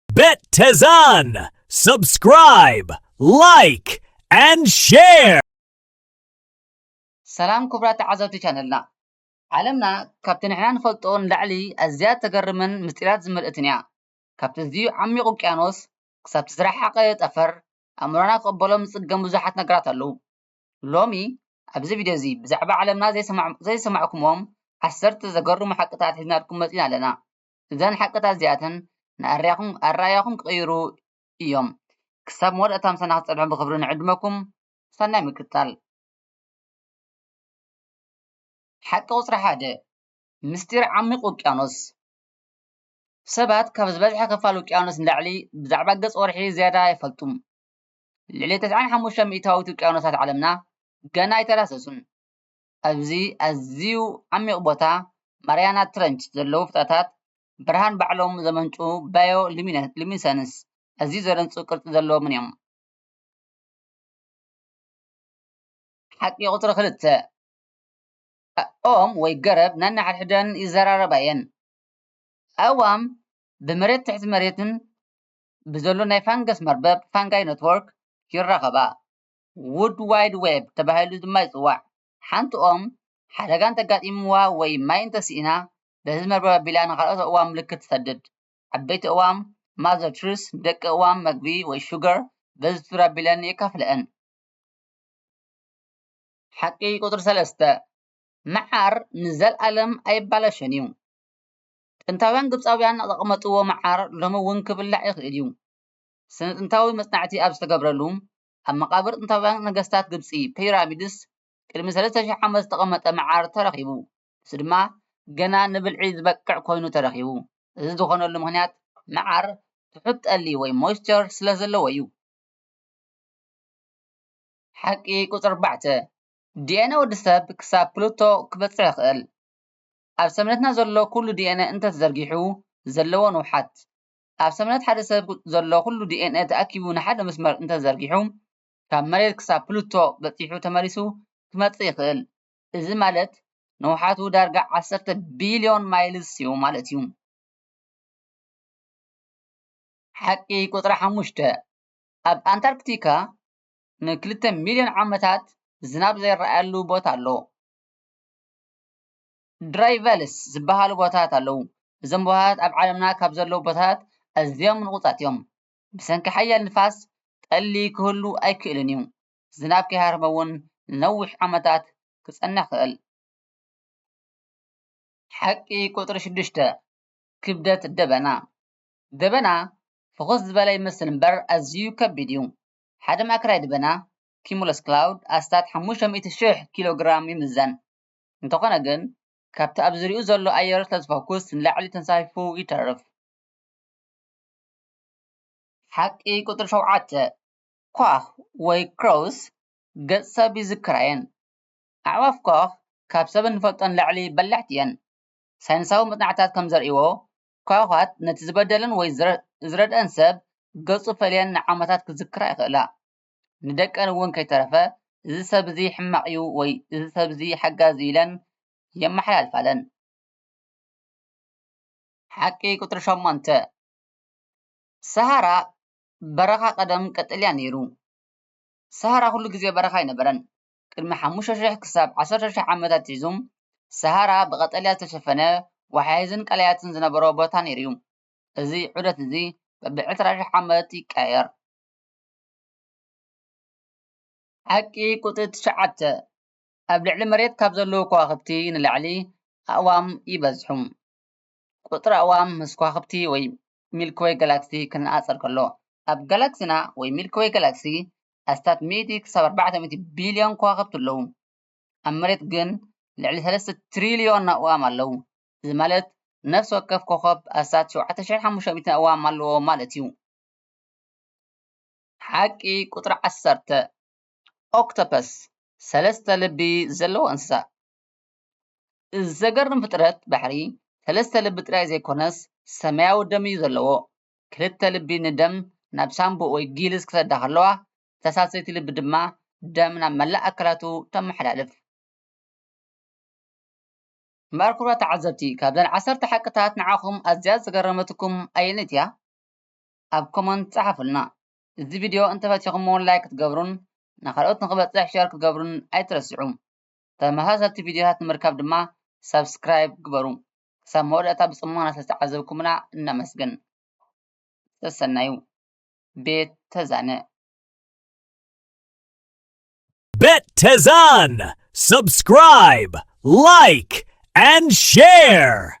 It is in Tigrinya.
Bet Tezan! Subscribe! Like! And share! ሰላም ክቡራት ተዓዘብቲ ቻነልና ዓለምና ካብቲ ንሕና ንፈልጦ ንላዕሊ ኣዝያ እተገርምን ምስጢራት ዝመልእትን እያ። ካብቲ ኣዝዩ ዓሚቝ ውቅያኖስ ክሳብቲ ዝረሓቐ ጠፈር ኣእምሮና ክቕበሎም ዝጽገም ብዙሓት ነገራት ኣለዉ። ሎሚ ኣብዚ ቪድዮ እዚ ብዛዕባ ዓለምና ዘይሰማዕኩምዎም ዓሰርተ ዘገርሙ ሓቅታት ሒዝናልኩም መጺእና ኣለና። እዘን ሓቅታት እዚኣተን ንኣርያኹም ኣረኣእያኹም ክቕይሩ ኢዮም። ክሳብ መወዳእታ ምሳና ክትጸንሑ ብኽብሪ ንዕድመኩም። ሰናይ ምክትታል። ሓቂ ቁጽሪ ሓደ፣ ምስጢር ዓሚቝ ውቅያኖስ። ሰባት ካብ ዝበዝሐ ክፋል ውቅያኖስ ንላዕሊ ብዛዕባ ገጽ ወርሒ ዝያዳ ኣይፈልጡን። ልዕሊ ተስዓን ሓሙሽተን ሚእታዊት ውቅያኖሳት ዓለምና ገና ኣይተዳህሰሱን። ኣብዚ ኣዝዩ ዓሚቝ ቦታ ማርያና ትረንች ዘለዉ ፍጥረታት ብርሃን ባዕሎም ዘመንጩ ባዮ-ሉሚነሰንስ ኣዝዩ ዘደንጹ ቅርጺ ዘለዎምን እዮም። ሓቂ ቁጽሪ ክልተ፣ ኦም ወይ ገረብ ነንሓድሕደን ይዘራረባ እየን። ኣእዋም ብመሬትን ትሕቲ መሬትን ብዘሎ ናይ ፋንገስ መርበብ፣ ፋንጋይ ኔትዎርክ፣ ይራኸባ። ዉርድ ዋይድ ዌብ ተባሂሉ ድማ ይጽዋዕ። ሓንቲ ኦም ሓደጋ እንተጋጢምዋ ወይ ማይ እንተስኢና በዚ መርበብ ኣቢላ ንኻልኦት ኣእዋም ምልክት ትሰድድ። ዓበይቲ ኣእዋም፣ Mother Trees፣ ንደቂ ኣእዋም መግቢ ወይ ሹገር በዚ ቱር ኣቢለን የካፍለኣን። ሓቂ ቁጽሪ ሰለስተ፣ መዓር ንዘልኣለም ኣይባላሾን እዩ። ጥንታውያን ግብጻውያን ዘቐመጥዎ መዓር ሎሚ እውን ክብላዕ ይኽእል እዩ። ስነ-ጥንታዊ መጽናዕቲ ኣብ ዝተገብረሉ ኣብ መቓብር ጥንታውያን ነገስታት ግብጺ፣ ፒራሚድስ፣ ቅድሚ ሰለስተ ሽሕ ዓመት ዝተቐመጠ መዓር ተረኺቡ። ንሱ ድማ ገና ንብልዒ ዝበቅዕ ኮይኑ ተረኺቡ። እዚ ዝኾነሉ ምኽንያት መዓር ትሑት ጠሊ ወይ ሞይስቸር ስለዘለዎ'ዩ። ሓቂ ቁጽሪ ኣርባዕተ፣ ዲኤንኤ ወድሰብ ክሳብ ፕሉቶ ክበጽሕ ይኽእል። ኣብ ሰብነትና ዘሎ ኩሉ ዲኤንኤ እንተተዘርጊሑ ዘለዎ ንውሓት፣ ኣብ ሰብነት ሓደ ሰብ ዘሎ ኩሉ ዲኤንኤ ተኣኪቡ ንሓደ መስመር እንተዘርጊሑ ካብ መሬት ክሳብ ፕሉቶ በጺሑ ተመሊሱ ክመጽእ ይኽእል። እዚ ማለት ንውሓቱ ዳርጋ ዓሰርተ ቢልዮን ማይልስ'ዩ ማለት'ዩ። ሓቂ ቁጽሪ ሓሙሽተ፣ ኣብ ኣንታርክቲካ ንክልተ ሚልዮን ዓመታት ዝናብ ዘይረኣየሉ ቦታ ኣሎ። ድራይቨልስ ዝበሃሉ ቦታታት ኣለዉ። እዞም ቦታታት ኣብ ዓለምና ካብ ዘለዉ ቦታታት ኣዝዮም ንቑጻት እዮም። ብሰንኪ ሓያል ንፋስ ጠሊ ክህሉ ኣይክእልን እዩ፣ ዝናብ ከይሃረመ እውን ንነዊሕ ዓመታት ክጸንሕ ይኽእል። ሓቂ ቁጽሪ ሽዱሽተ፣ ክብደት ደበና፣ ደበና ፍኹስ ዝበለ ይመስል እምበር ኣዝዩ ከቢድ እዩ። ሓደ ማእከላይ ደበና፣ ኪሙለስ ክላውድ፣ ኣስታት ሓሙሽተ ሚእቲ ሽሕ ኪሎግራም ይምዘን። እንተኾነ ግን ካብቲ ኣብ ዙርይኡ ዘሎ ኣየር ስለዝፈኩስ ንላዕሊ ተንሳፊፉ ይተርፍ። ሓቂ ቁጽሪ ሸውዓተ፣ ኳኽ ወይ ክሮውስ ገጽ ሰብ ይዝክራ እየን። ኣዕዋፍ ኳኽ ካብ ሰብ እንፈልጦ ንላዕሊ በላሕቲ እየን። ሳይንሳዊ መጽናዕትታት ከም ዘርእይዎ፣ ኳዃት ነቲ ዝበደለን ወይ ዝረድኣን ሰብ ገጹ ፈልየን ንዓመታት ክዝክራ ይኽእላ። ንደቀን እውን ከይተረፈ እዚ ሰብ እዚ ሕማቕ እዩ ወይ እዚ ሰብ እዚ ሓጋዚ እዩ ኢለን የመሓላልፋለን። ሓቂ ቁፅሪ ሸሞንተ ሰሃራ በረኻ ቀደም ቀጠልያ ነይሩ። ሰሃራ ኩሉ ግዜ በረኻ ኣይነበረን። ቅድሚ ሓሙሽተ ሽሕ ክሳብ ዓሰርተ ሽሕ ዓመት ኣትሒዙ ሰሃራ ብቀጠልያ ዝተሸፈነ ወሓይዝን ቀላያትን ዝነበሮ ቦታ ነይሩ እዩ። እዚ ዑደት እዚ በብዕስራ ሽሕ ዓመት ይቀያየር። ሓቂ ቁጽሪ ትሽዓተ ኣብ ልዕሊ መሬት ካብ ዘለዉ ከዋኽብቲ ንላዕሊ ኣእዋም ይበዝሑ። ቁጽሪ ኣእዋም ምስ ከዋኽብቲ ወይ ሚልኪ ወይ ጋላክሲ ክነጻጸር ከሎ ኣብ ጋላክስና ወይ ሚልኪ ወይ ጋላክሲ ኣስታት ሚእቲ ክሳብ ኣርባዕተ ሚእቲ ቢልዮን ከዋኽብቲ ኣለዉ። ኣብ መሬት ግን ልዕሊ ሰለስተ ትሪልዮን ኣእዋም ኣለዉ። እዚ ማለት ነፍሲ ወከፍ ኮኾብ ኣስታት ሸውዓተ ሽሕን ሓሙሽተ ሚእትን ኣእዋም ኣለዎ ማለት እዩ። ሓቂ ቁጽሪ ዓሰርተ፣ ኦክቶፐስ፣ ሰለስተ ልቢ ዘለዎ እንስሳ እዩ። እዚ ዘገርም ፍጥረት ባሕሪ ሰለስተ ልቢ ጥራይ ዘይኮነስ ሰማያዊ ደም እዩ ዘለዎ። ክልተ ልቢ ንደም ናብ ሳንቡእ ወይ ጊልስ ክሰዳ ከለዋ እታ ሳልሰይቲ ልቢ ድማ ደም ናብ መላእ ኣካላቱ ተመሓላልፍ። እምበኣር ክቡራት ተዓዘብቲ ካብዘን ዓሰርተ ሓቅታት ንዓኹም ኣዝያ ዝገረመትኩም ኣየነይቲ እያ? ኣብ ኮመንት ጸሓፉልና። እዚ ቪድዮ እንተፈቲኹምዎ ላይክ ክትገብሩን ንኻልኦት ንኽበጽሕ ሸር ክትገብሩን ኣይትረስዑ። ተመሳሰልቲ ቪድዮታት ንምርካብ ድማ ሳብስክራይብ ግበሩ። ክሳብ መወዳእታ ብጽሞና ስለዝተዓዘብኩምና ነመስግን። ሰሰናዩ። ቤት ተዛነ። Bet Tezan! Subscribe, like, and share!